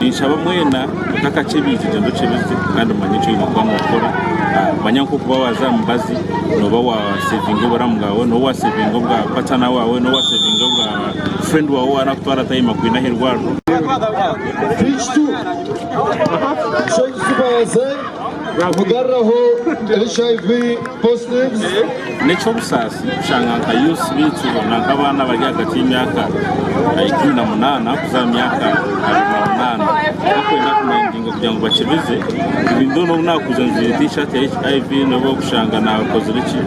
Ninshaba mwena kutakakya eby'ekigyendo kye bibi kandi mumanye eki oine kuba nookora. Manya nk'oku waaba waaza aha mubazi, nooba waaseevinga oburamu bwawe, nooba waaseevinga obwa patana waawe, nooba waaseevinga obwa friend wawe ou arakutwara atayima kwine aha irwariro. Kristo nikyo kitubaase kugaruraho HIV positives. N'eky'obusaasi kushanga nka youths baitu na nk'abaana abari ahagati y'emyaka ikumi na munaana kuza aha myaka abiri na munaana bakwenda kumindinga kugira ngu bakibize even though n'obu naakuza njwaire t-shirt ya HIV nobu okushanga naakozire ki.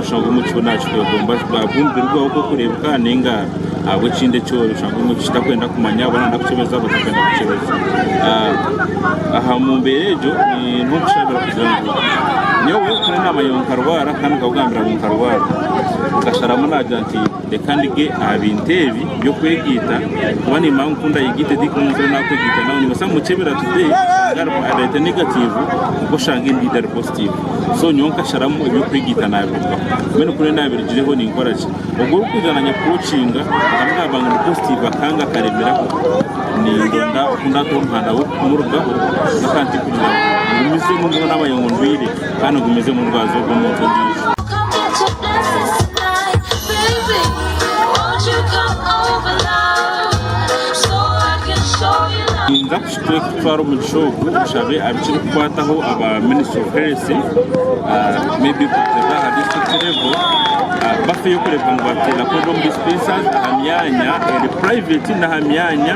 Oshanga obumwe kiriyo nakikwegomba ahabw'omubiri gwawe oku orikureebeka nainga ahabw'ekindi eki ori. Oshanga obumwe kitakwenda kumanya oba nayenda kukyebeza oba takwenda kukyebeza. Aha mu mbeera egyo ni nk'okushabira kugira ngu nyowe nkaba naamanya ngu nkarwara kandi nkagambira ngu nkarwara. Akasharamu naagira nti Reka ndege aha bintu ebi by'okwegaita kuba nimba nkukunda yegaite di kuba omuntu ou nakwegaita nawe nimbaasa kumukyebera today oshange arimu areeta negatiivu kwonka oshange endiijo ari positiivu so nyowe nkasharamu eby'okwegaita nabirugaho mbwenu ku nyowe nabirugireho ninkora ki? Ogwo orikuza nanye kukocinga nkamugamba ngu ndi positiivu akanga akaremeraho nindoonda oku ndatuura omuhanda gw'okumurugaho kwonka mpurira ngu ngumizemu mbwenu naaba ayeye ngu ndwaire. kandi ogumize omu rubaju rw'omuntu ondiijo. Ninza kutwara omugisha ogu nshabe abikirikukwataho aba ministry of health may be kurugiirira aha district level bafeyo kureeba ngu bateera kunu omu dispensers aha myanya eri private n'aha myanya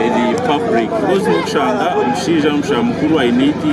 eri public coz nokushanga omushaija nomushaija mukuru aine eiti.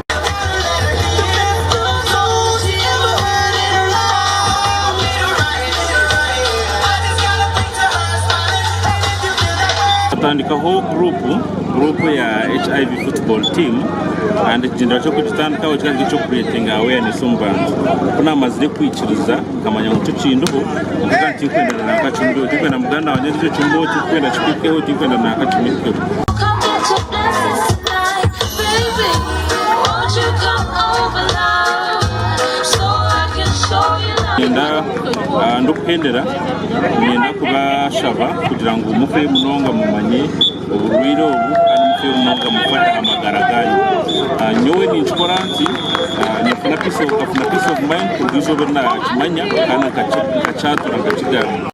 tutandikaho guruupu guruupu ya hiv football team kandi ekigyendera ky'okugitandikaho kikaba kiri eky'okukureetinga awareness omu bantu ku naamazire kwikiriza Nkamanya ngu tikindiho, nkagira nti tinkwenda nanka kimwe ekyo, tinkwenda muganda wangye agira ekyo mbeho, tinkwenda kituukeho, tinkwenda nanka kimwe ekyo. Ndikuhendera, niinyenda kubashaba kugira ngu mufe munonga mumanye. Oburwaire obu kandi mukye munonga mukwata aha magara gaanyu. Nyowe ninkikora nti ninkafuna peace of nkafuna peace of mind kuruga eizooba eri naakimanya kandi nkakyatura nkakigamba.